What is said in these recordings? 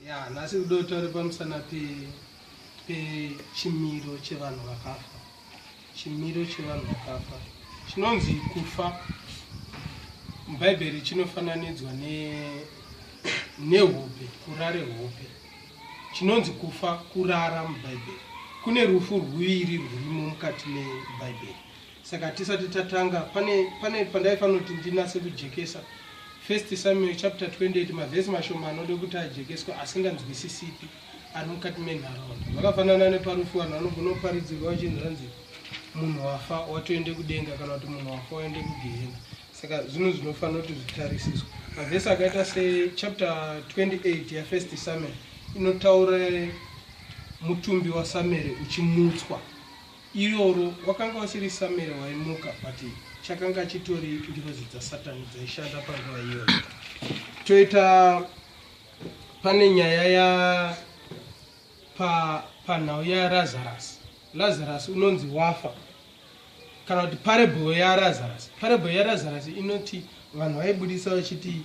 ya nhasi kudo taure pamusana pechimiro pe chevanhu vakafa chimiro chevanhu vakafa chinonzi kufa mubhaibheri chinofananidzwa nehope ne kurare hope chinonzi kufa kurara mubhaibheri kune rufu rwuviri rwurimo mukati mebhaibheri saka tisati tatanga pane pane pandaifanira kuti ndinase kujekesa first samuel chapter 28 mavhesi mashoma anode kuti ajekeswe asinganzwisisipi ari mukati menharaunda vakafanana neparufu vanhu vanogona kuparidzirwa vachinzi hanzi munhu wafa watoende kudenga kana kuti munhu wafa waende kugehena saka zvinhu zvinofanira kuti zvitarisiswa mavhesi akaita sechapter 28 yafirst samuel inotaura mutumbi wasamueri uchimutswa Iroro wakanga usiri Samuel waimuka but chakanga chitori ngirozi dzasatani dzaishanda panguva iyoyo. Toita pane nyaya ya pa panhau yaLazarus. Lazarus unonzi wafa kana kuti parable yaLazarus. Parable yaLazarus inoti vanhu vaibudisa vachiti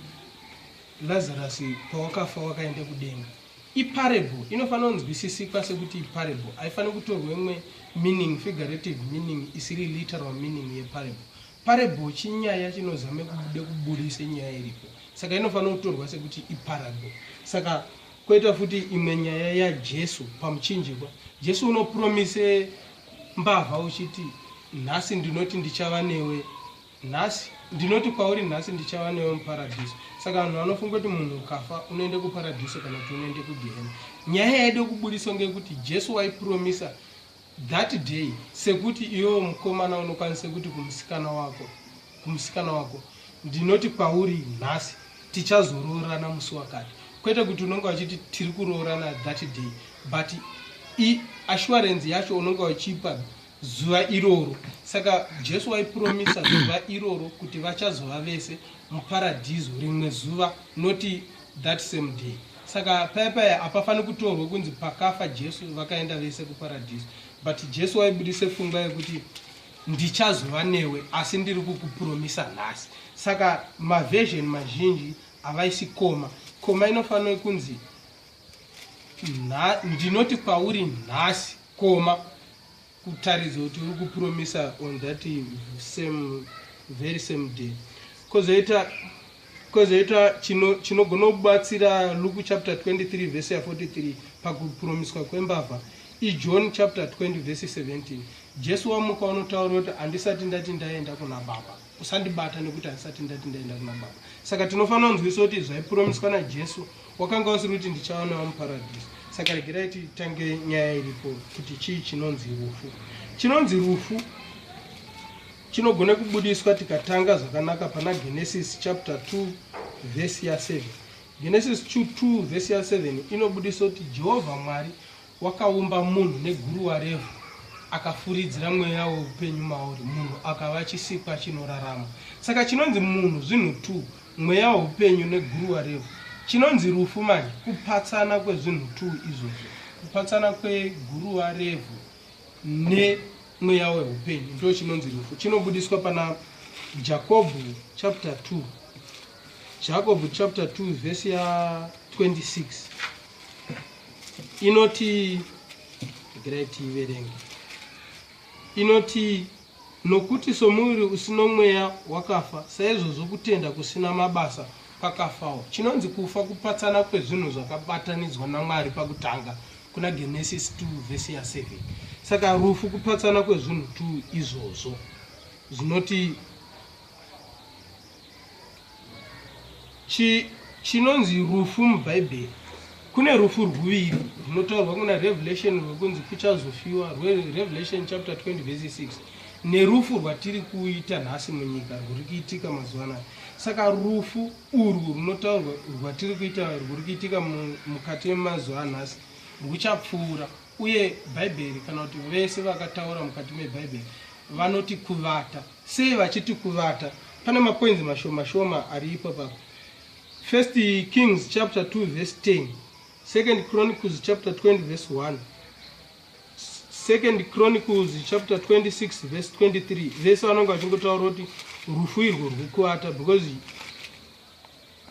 Lazarus pawakafa wakaenda kudenga. Iparable inofanira kunzwisisikwa sekuti iparable, haifaniri kutorwa imwe meaning, figurative meaning, isiri literal meaning yeparable. Parable chinyaya chinozame kubude kuburise nyaya iripo, saka inofanira kutorwa sekuti iparable. Saka koita futi imwe nyaya yaJesu pamuchinjikwa. Jesu unopromise mbavha uchiti nhasi ndinoti ndichava newe nhasi ndinoti kwauri nhasi ndichava newe muparadhiso saka vanhu vanofunga kuti munhu ukafa unoende kuparadhiso kana kuti unoende kugehena nyaya yaide kuburiswa ngekuti jesu waipromisa that day sekuti iwewo mukomana unokwanise kuti kumusikana wako kumusikana wako ndinoti kwauri nhasi tichazoroorana musi wakati kwete kuti unonge wachiti tiri kuroorana that day but assurance yacho unonge uchipa zuva iroro saka jesu waipromisa zuva iroro kuti vachazova vese muparadhiso rimwe zuva noti that same day saka paya paya hapafaniri kutorwa kunzi pakafa jesu vakaenda vese kuparadhiso but jesu waibudise pfungwa yekuti ndichazova newe asi ndiri kukupromisa nhasi saka maversion mazhinji havaisi koma koma inofanira kunzi ndinoti kwauri nhasi koma kutaridza kuti uri kupromisa on that same very same day kozoita kozoita chinogona chino kubatsira luke chapter 23 vese ya 43 pakupromiswa kwembavha ijohn chapter 20 vese 17 jesu wamuka unotaura kuti handisati ndati ndaenda kuna baba usandibata nekuti handisati ndati ndaenda kuna baba saka tinofanira kunzwisa kuti zvaipuromiswa najesu wakanga usiri kuti ndichaonawo muparadhiso saka regerai titange nyaya iripo kuti chii chinonzi rufu chinonzi rufu chinogona kubudiswa tikatanga zvakanaka pana genesis chapter 2 vhesi ya 7 genesis 2 vhesi ya 7 inobudisa kuti jehovha mwari Wakaumba munhu neguruwa revhu akafuridzira mweya weupenyu mauri munhu akava chisikwa chinorarama saka chinonzi munhu zvinhu t mweya weupenyu neguruwa revhu chinonzi rufu manje kupatsana kwezvinhu t izvozvo kupatsana kweguruwa revhu nemweya weupenyu ndo chinonzi rufu chinobudiswa pana jakobho chapter 2 jakobho chapter 2 vhesi ya 26 inoti regerai tiiverenge inoti nokuti somuviri usino mweya wakafa saizvozvo kutenda kusina mabasa kwakafawo chinonzi kufa kupatsana kwezvinhu zvakabatanidzwa namwari pakutanga kuna genesis 2 vhesi ya 7 saka rufu kupatsana kwezvinhu 2 izvozvo zvinoti chinonzi rufu mubhaibheri kune rufu rwuviri runotaurwa kuna revelation rwekunzi kuchazofiwa rwerevelation chapter 20 vese 6 nerufu rwatiri kuita nhasi munyika rwuri kuitika mazuva anaya saka rufu urwu runotaurwa rwatiri kuita rwuri kuitika mukati memazuva anhasi rwuchapfuura Uye Bhaibheri kana kuti vese vakataura mukati meBhaibheri vanoti kuvata. Sei vachiti kuvata? Pane mapoinzi mashoma shoma ari ipo papa. First Kings chapter 2 verse 10, Second Chronicles chapter 20 verse 1, Second Chronicles chapter 26 verse 23. Vese vanonga vachingotaura kuti rufu irwo rwukuvata because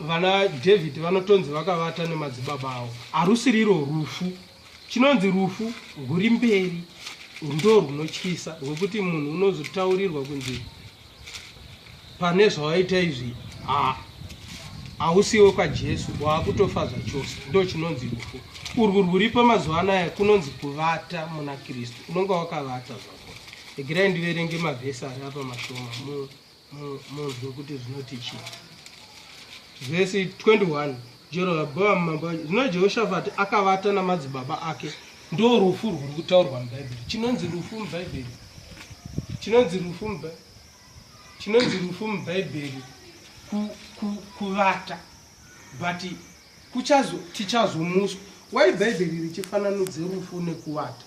Vana David vanotonzi vakavata nemadzibaba avo. Harusiriro rufu. Chinonzi rufu rwuri mberi ndo rwunotyisa rwekuti munhu unozotaurirwa kunzi pane zvawaita izvi haa hausiwe kwajesu waakutofa zvachose ndo chinonzi rufu urwu rwuripo mazuva anaya kunonzi kuvata muna kristu unonga wakavata zvako egirai ndiverenge mavhesi ari apa mashoma mu Munzwe kuti zvinoti chii? Vhesi 21 Jerobhoamu mambo wacho. Zvino Jehoshafati akavata namadzibaba ake. Ndo rufu rwuri kutaurwa muBhaibheri. Chinonzi rufu muBhaibheri. Chinonzi rufu muBhaibheri. Chinonzi rufu muBhaibheri ku, ku, kuvata. But kuchazo tichazomuswa. Why Bhaibheri richifananudze rufu nekuvata?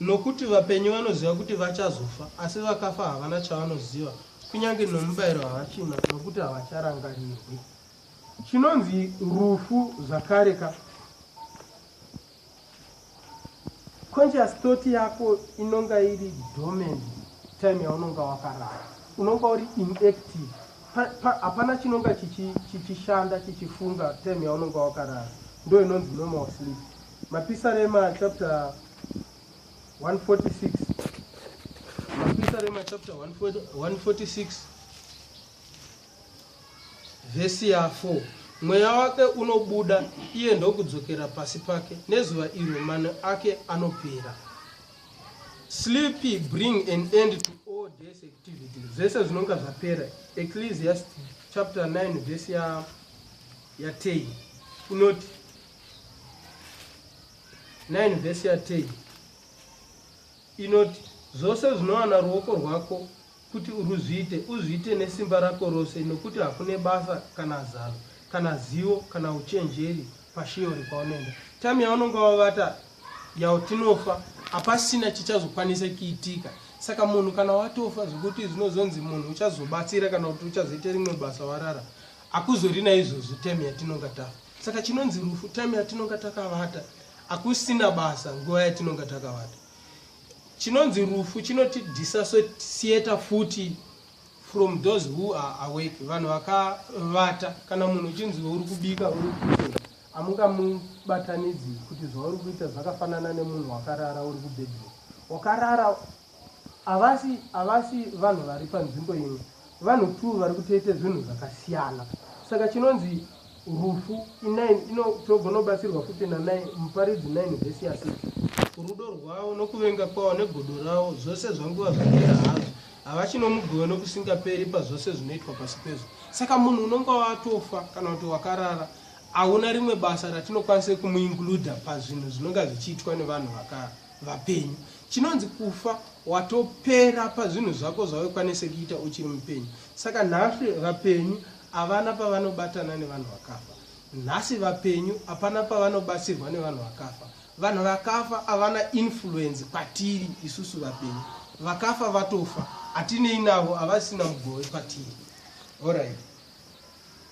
Nokuti vapenyu vanoziva kuti vachazofa, asi vakafa havana chavanoziva, kunyange nomubayiro havachina, nokuti havacharangarirwi. Chinonzi rufu zvakare ka? Conscious thought yako inonga iri dormant time yaunonga wakarara, unonga uri inactive hapana chinonga chichishanda chichifunga time yaunonga wakarara ndo inonzi normal sleep Mapisarema chapter 146 Mapisarema chapter 146 vhesi ya 4 mweya wake unobuda iye ndokudzokera pasi pake nezuva iro mano ake anopera sleepy bring an end to all days activity zvese zvinonga zvapera ecclesiast chapter 9 vhesi ya, ya 10 inoti 9 vhesi yatei inoti zvose zvinowana ruoko rwako kuti uruzviite uzviite nesimba rako rose nokuti hakune basa kana zano kana zivo kana uchenjeri pashiyori kwaunoenda time yaunonge wavata yautinofa hapasina chichazokwanisa kiitika saka munhu kana watofa zvekuti zvinozonzi munhu uchazobatsira kana kuti uchazoita rimwe basa warara hakuzorina izvozvi time yatinonga tafa Saka chinonzi rufu time yatinonga takavata akusina basa nguva yatinonga takavata. Chinonzi rufu chinoti disassociate futi from those who are awake vanhu vakavata kana munhu uchinzi uri kubika uri kuita amungamubatanidzi kuti zvauri kuita zvakafanana nemunhu wakarara uri kubedroom wakarara Havasi havasi vanhu vari panzvimbo imwe. Vanhu two vari kutoita zvinhu zvakasiyana. Saka chinonzi rufu inine ino togonobatsirwa futi nanai muparidzi 9 vhesi ya 6 rudo rwavo nokuvenga kwavo negodo ravo zvose zvanguva zvapera hazvo havachinomugowe nokusingaperi pazvose zvinoitwa pasi pezvo saka munhu unonga watofa kana kuti wakarara hauna rimwe basa ratinokwanisa kumuinkluda pazvinhu zvinonga zvichiitwa nevanhu vapenyu Chinonzi kufa watopera pazvinhu zvako zvawekwanise kuita uchiri mupenyu. Saka nhasi vapenyu avana pavanobatana nevanhu vakafa. Nhasi vapenyu apana pavanobatsirwa nevanhu vakafa. Vanhu vakafa avana influence patiri isusu vapenyu. Vakafa vatofa. Atinei navo avasina mugove patiri. All right.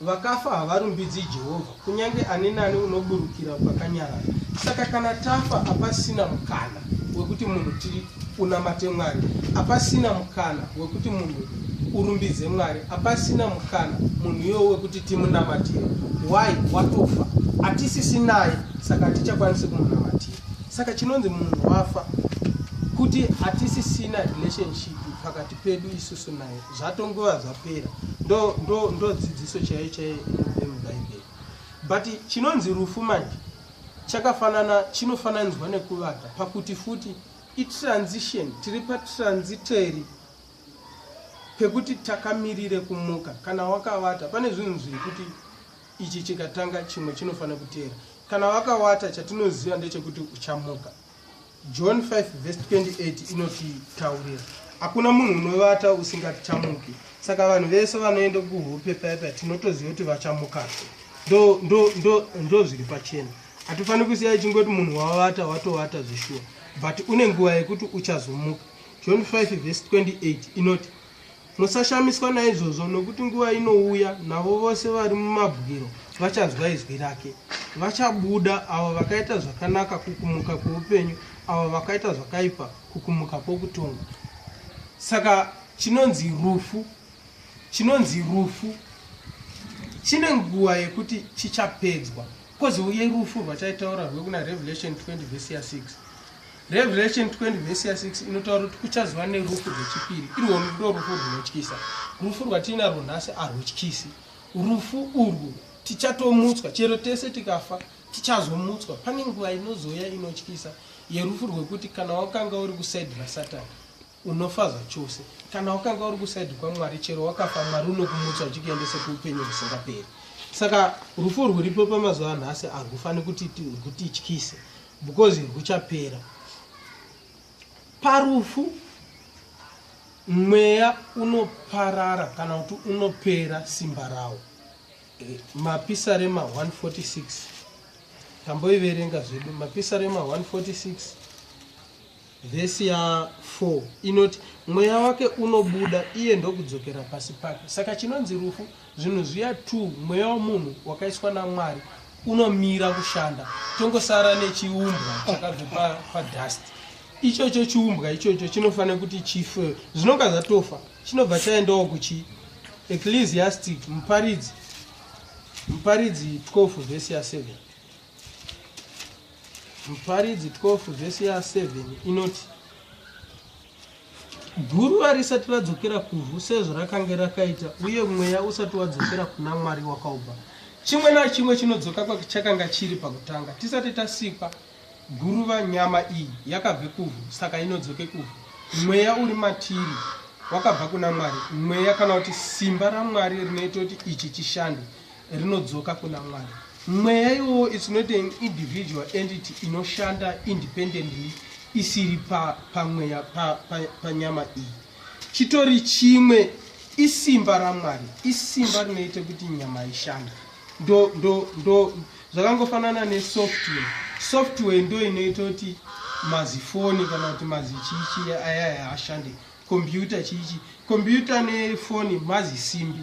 Vakafa havarumbidzi Jehovha, kunyange ani nani unoburukira kwakanyarara. Saka kana tafa, hapasina mukana wekuti munhu tiri unamate Mwari, hapasina mukana wekuti munhu urumbidze Mwari, hapasina mukana munhu iyoyo wekuti timunamatire. Why? Watofa, hatisisi naye, saka hatichakwanisi kumunamatira. Saka chinonzi munhu wafa kuti hatisisina relationship pakati pedu isusu naye. zvatongova zvapera ndo ndo ndo dzidziso chaiyo chaiyo inobve mubhaibheri but chinonzi rufu manje chakafanana chinofananidzwa nekuvata pakuti futi itransition tiri patransitory pekuti takamirire kumuka kana wakavata pane zvinhu zviri kuti ichi chikatanga chimwe chinofanira kuteera kana wakawata chatinoziva ndechekuti uchamuka John 5 verse 28 inotitaurira hakuna munhu unovata usingatichamuki saka vanhu vese vanoenda kuhope paya paya tinotoziva kuti vachamukazve ndo ndo ndo ndo zviri pachena hatifaniri kusiya ichingoti munhu wavata watovata zvishuwa but une nguva yekuti uchazomuka john 5 vhesi 28 inoti Musashamiswa naizvozvo, nokuti nguva inouya, navo vose vari mumabwiro vachanzwa izwi rake. Vachabuda, avo vakaita zvakanaka kukumuka kwoupenyu, avo vakaita zvakaipa kukumuka kwokutongwa. Saka chinonzi rufu, chinonzi rufu chine nguva yekuti chichapedzwa, kozouye rufu rwachaitaura rwekuna Revelation 20 vhesi ya 6. Revelation 20 vhesi ya 6 inotaura kuti kuchazova nerufu rwechipiri irwo ndo rufu rwunotyisa. Rufu rwatiinarwo nhasi arwutyisi. Rufu urwu tichatomutswa, chero tese tikafa tichazomutswa. Pane nguva inozouya inotyisa yerufu rwekuti kana wakanga uri kusaidi rasatani unofa zvachose. Kana wakanga uri kusaidi kwaMwari, chero wakafa, Mwari unokumutswa achikuendese kuupenyu husingaperi. Saka rufu rwuripo pamazuva anhasi arwufaniri kuti rwutityise. because huchapera parufu mweya unoparara kana kuti unopera simba rawo eh, mapisarema 146 tamboiverenga zvedu mapisarema 146 Vhesi ya 4 inoti mweya wake unobuda iye ndokudzokera pasi pake. Saka chinonzi rufu, zvinhu zviya 2 mweya womunhu wakaiswa naMwari unomira kushanda, tongosara nechiumbwa chakabve pa, pa dust ichocho chiumbwa ichocho chinofanira kuti chife zvinonga zvatofa chinobva chaendawo kuchi ecclesiastic muparidzi muparidzi 12 vhesi ya 7 Muparidzi 12 vhesi ya 7 inoti guruva risati radzokera kuvhu sezvo rakange rakaita uye mweya usati wadzokera kuna mwari wakaubva chimwe nachimwe chinodzoka kwachakanga chiri pakutanga tisati tasikwa guruva nyama iyi yakabve kuvhu saka inodzoke kuvhu mweya uri matiri wakabva kuna mwari mweya kana kuti simba ramwari rinoita kuti ichi chishande rinodzoka kuna mwari mweya iwowo its not an individual entity inoshanda independently isiri pamweya pa panyama pa, pa iyi chitori chimwe isimba ramwari isimba rinoita kuti nyama ishanda ndo ndo ndo zvakangofanana nesoftware software ndo inoita kuti mazifoni kana kuti mazichichi ayaya ashande kompyuta chichi kompyuta nefoni mazisimbi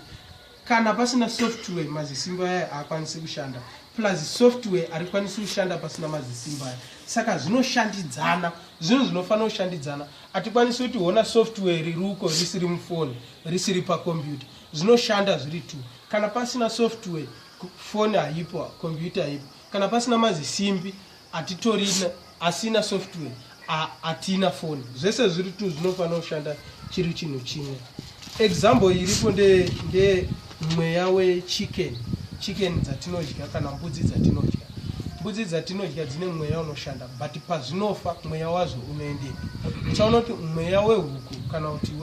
Kana pasina software mazisimba aya haakwanisi kushanda plus software harikwanisi kushanda pasina mazisimba aya saka zvinoshandidzana zvinhu zvinofanira kushandidzana hatikwanisi kuti hona software riri uko risiri mufoni risiri pakombiyuta zvinoshanda zviri two kana pasina software foni haipo kombiyuta haipo kana pasina mazisimbi atitorina asina software atina foni zvese zviri tu zvinofanira kushanda chiri chinhu chimwe example iripo ndemweya nde wechicken chicken dzatinodya kana mbudzi dzatinodya mbudzi dzatinodya dzine mweya unoshanda but pazvinofa mweya wazvo unoendepi uchaona kuti mweya wehuku kana kuti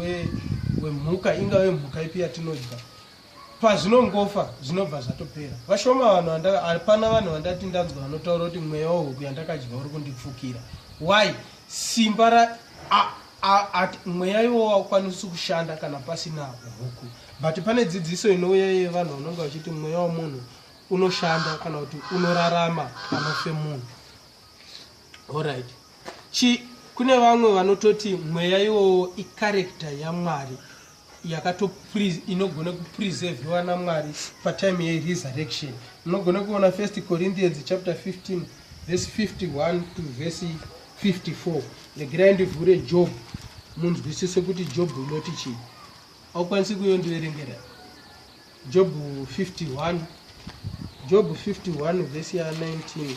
wemhuka ingave mhuka ipi yatinodya pazvinongofa zvinobva zvatopera vashoma vanhu vanda hapana vanhu vandati ndanzwa vanotaura kuti mweya wehuku yandakadyiwa uri kundipfukira why simba ra mweya iwo waukwanisi kushanda kana pasina huku but pane dzidziso inouya iye vanhu vanonge vachiti mweya wemunhu unoshanda kana kuti unorarama panofe munhu Alright. Chi kune vamwe vanototi mweya iwowo icharacter yamwari yakato inogona kupreserviwa namwari patime yeresurrection munogona kuona first corinthians chapter 15 verse 51 to verse 54 regerai ndivhure job munzwisise kuti job unoti chii aukwanisi kuyo ndiverengera job 51 job 51 verse ya 19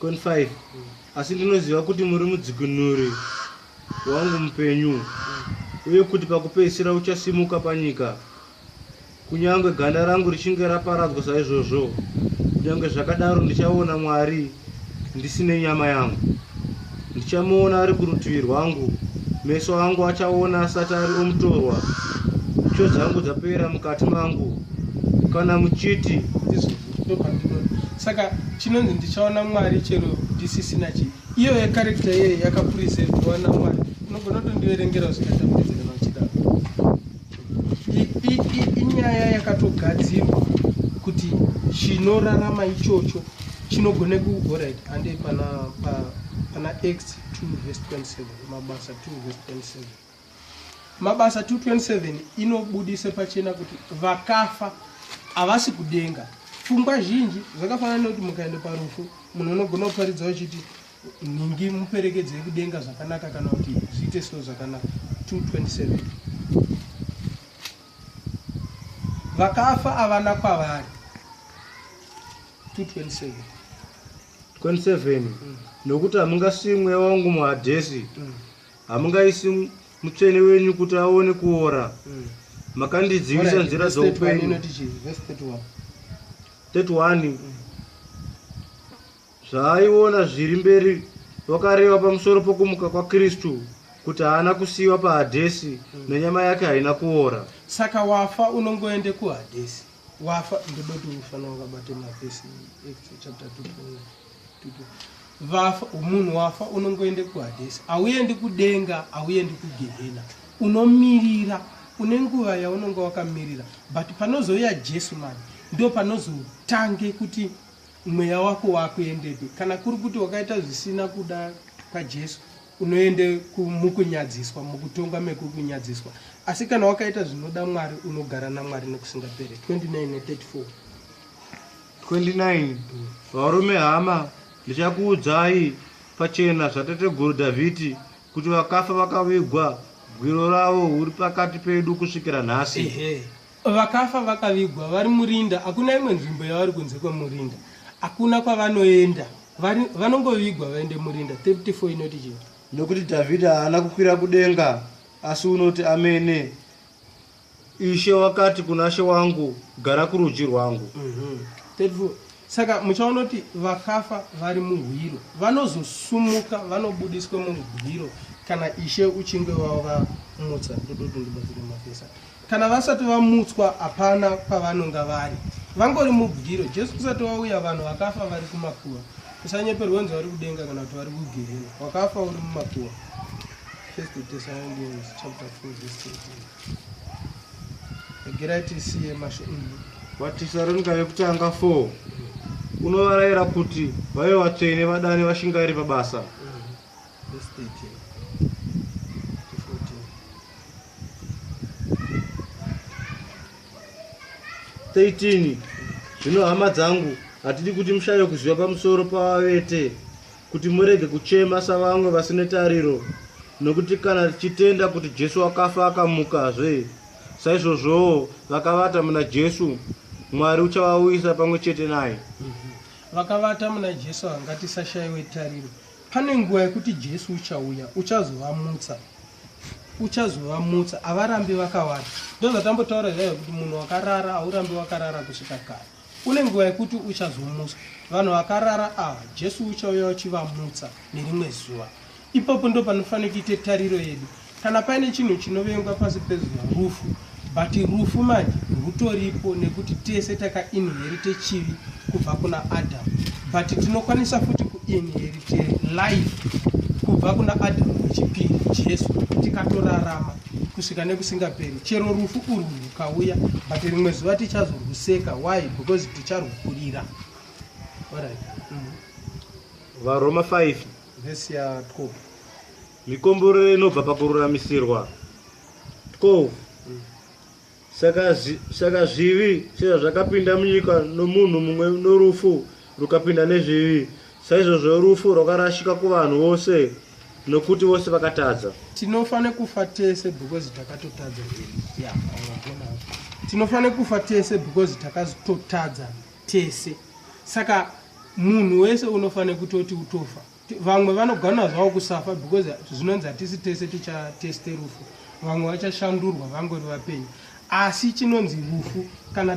25 asi ndinoziva kuti muri mudzikinuri wangu mupenyu uye kuti pakupedzisira uchasimuka panyika kunyange ganda rangu richinge raparadzwa saizvozvo kunyange zvakadaro ndichaona mwari ndisine nyama yangu ndichamuona ari kurutivi rwangu meso angu achaona asati ari omutorwa tsvo dzangu dzapera mukati mangu kana muchiti saka chinonzi ndichaona mwari chero ndisisina chii iyo yekarekta yeye yakapurizevhiwa namwari unogona kutondiverengera zvikatambudzi kana uchidaro inyaya yakatogadzirwa kuti chinorarama ichocho chinogona kuorit ande pana pana x 2 vs 27 mabasa 2 vs 27 mabasa 227 inobudisa pachena kuti vakafa havasi kudenga pfungwa zhinji zvakafanana nekuti mukaenda parufu munhu unogona kuparidza uchiti nhingi muperekedze yekudenga zvakanaka kana kuti zviite slo zvakanaka 227 vakafa avana kwavari 227 27 mm. nokuti hamungasii mweya wangu muhadhesi mm. hamungaisi mm. mutsvene wenyu kuti aone kuora mm. makandidzivisa right. nzira dzoupenyu 31 mm. Zvaaiona zviri mberi wakareva pamusoro pokumuka kwaKristu kuti haana kusiiwa paHadhesi mm. nenyama yake haina kuora. Saka wafa unongoende kuHadhesi. Wafa ndoda kuti ufana wakabate mavhesi chapter 2 vafa munhu wafa unongoende kuhadhesi hauendi kudenga hauendi kugehena unomirira une nguva yaunonge wakamirira but panozouya jesu mani ndo panozotange kuti mweya wako wakuendepi kana kuri kuti wakaita zvisina kuda kwajesu unoende mukunyadziswa mukutongwa mekukunyadziswa asi kana wakaita zvinoda mwari unogara namwari nekusingapere 2934 29 varume hama ndichakuudzai pachena zvatateguru dhavhidhi kuti vakafa vakavigwa gwiro ravo uri pakati pedu kusvikira nhasi Vakafa vakavigwa vari murinda, hakuna imwe nzvimbo yavari kunze kwemurinda, hakuna kwavanoenda, vanongovigwa vaende murinda. 34 inoti chii? Nokuti Dhavhidhi haana kukwira kudenga, asi unoti amene, Ishe wakati kuna she wangu, gara kurudyi rwangu. Mm -hmm. 34 saka muchaona kuti vakafa vari muhwiro vanozosumuka vanobudiswa muhwiro kana ishe uchinge wavamutsa ndodoto ndibatsire mafesa Kana vasati vamutswa hapana pavanonga vari. Vangori mubyiro. Jesu kusati wauya vanhu vakafa vari kumakuva. Usanyeperwe unzi vari kudenga kana kuti vari kugerera. Wakafa uri mumakuva. First Thessalonians chapter 4 verse 13. Regerai tisiye masho. Mm. Vatesaronika vekutanga 4 unovarayira kuti vave vatsvene vadane vashingairi pabasa. Verse 13 to 14. Thirteen. Zvino hama dzangu, hatidi kuti mushaye kuziva pamusoro pavavete, kuti murege kuchema savamwe vasine tariro, nokuti kana tichitenda kuti Jesu akafa akamukazve, saizvozvowo vakavata muna Jesu, Mwari uchavauyisa pamwe chete naye. Vakavata muna Jesu hangatisashaiwe tariro. Pane nguva yekuti Jesu uchauya, uchazovamutsa. Uchazovamutsa, havarambi vakawanda. Ndozvatambotaura zvayo kuti munhu wakarara haurambi wakarara kusvika kare. Kune nguva yekuti uchazomutswa. Vanhu vakarara ava, Jesu uchauya uchivamutsa nerimwe zuva. Ipapo ndopanofanira kuita tariro yedu. Kana paine chinhu chinovengwa pasi pezuva rufu but rufu manje rwutoripo nekuti tese takainherite chivi kubva kuna adam but tinokwanisa futi kuinherite life kubva kuna adam wechipiri jesu tikatorarama kusvika nekusingaperi chero rufu urwu rwukauya but rimwe zuva tichazorwuseka why because ticharwukurira varoma 5 vesi ya 12 Mikomborero inobva pakururamisirwa. Ko saka zi- saka zvivi sezvazvakapinda munyika nomunhu mumwe norufu rukapinda nezvivi, saizvozvo rufu rwakarashika kuvanhu vose nokuti vose vakatadza. tinofa nekufa tese because takatotadza Yeah, unogona. tinofa nekufa tese because takatotadza tese saka munhu wese unofa nekutoti utofa vamwe vanogona zvavo kusafa because zvinonzi hatisi tese tichateste rufu vamwe vachashandurwa vangori vapenyu asi chinonzi rufu kana